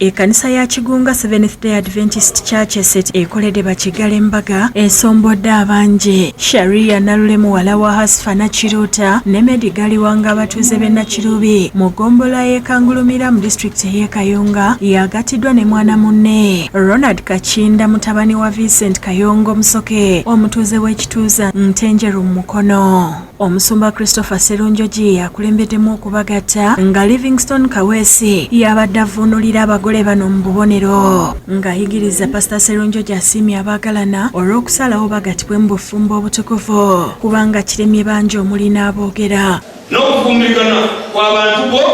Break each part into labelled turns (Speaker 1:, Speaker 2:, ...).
Speaker 1: Ekanisa ya Kigunga Seventh Day Adventist Church Eset ekolede bakigala embaga esombodde abangi Sharia Nalule muwala wa Hasfa Nakiruuta ne Medi Galiwanga abatuuze b'e Nakirubi mu ggombolola y'ekangulumira mu disitulikiti ey'e Kayunga yagatiddwa ne mwana munne Ronald Kakinda mutabani wa Vincent Kayongo Musoke omutuuze w'ekituuza Ntenjeru mu Mukono. Omusumba Christopher Sserunjogi ye yakulembeddemu okubagatta nga Livingstone Kaweesi y'abadde avvuunulira abagole bano mu bubonero. Ng'ayigiriza, Pasita Sserunjogi asiimye abaagalana olw'okusalawo bagatibwe mu bufumbo obutukuvu kubanga kiremye bangi omuli n'aboogera. N'okufumbigana
Speaker 2: kw'abantu bo.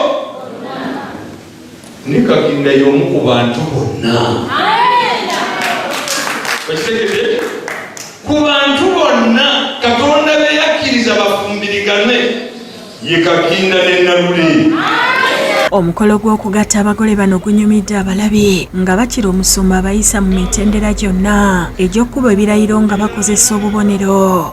Speaker 2: ne kakinda y'omu ku bantu bonna okitegede ku bantu bonna katonda be yakkiriza bafumbirigane ye kakinda ne naluli omukolo
Speaker 1: gw'okugatta abagole bano gunyumidde abalabi nga bakira omusumba abayisa mu mitendera gyonna egy'okukuba ebirayiro nga bakozesa obubonero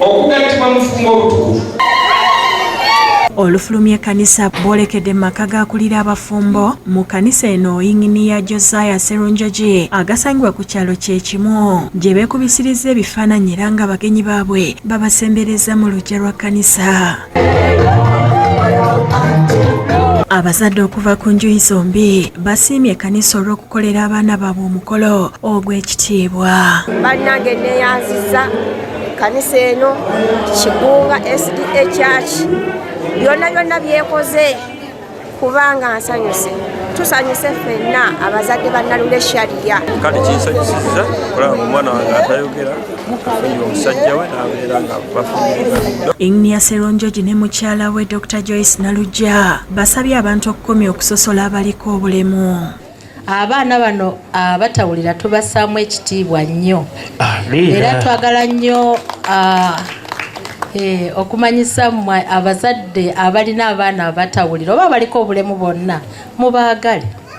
Speaker 2: okugattibwa mu bufumbo obutukuvu
Speaker 1: olufulumya ekkanisa bwolekedde mu maka g'akulira abafumbo mu kkanisa eno yinginiya josiah serunjogi agasangibwa ku kyalo kyekimu gye beekubisiriza ebifaananyi era nga abagenyi baabwe babasembereza mu lujja lwa kkanisa abazadde okuva ku njuyi zombi basiimye ekkanisa olw'oku kolera abaana baabwe omukolo ogw'ekitiibwa bannange
Speaker 3: neyanziza ekkanisa eno kigunga sda church byonna byonna byekoze kubanga nsanyuse tusanyuse ffenna abazadde bannalule shariya kati kinsanyusiza
Speaker 4: kulaba omwana wange atayogera omusajja we nabeera nga bafumiaa ingnia serunjogi
Speaker 1: ne mukyala we dr joyce nalugya basabye abantu okukomya okusosola abaliko obulemu abaana
Speaker 5: bano abatawulira tubasaamu ekitiibwa nnyo era twagala nnyo Eh, okumanyisa mwe abazadde abalina abaana abatawulira oba abaliko obulemu bonna mubaagale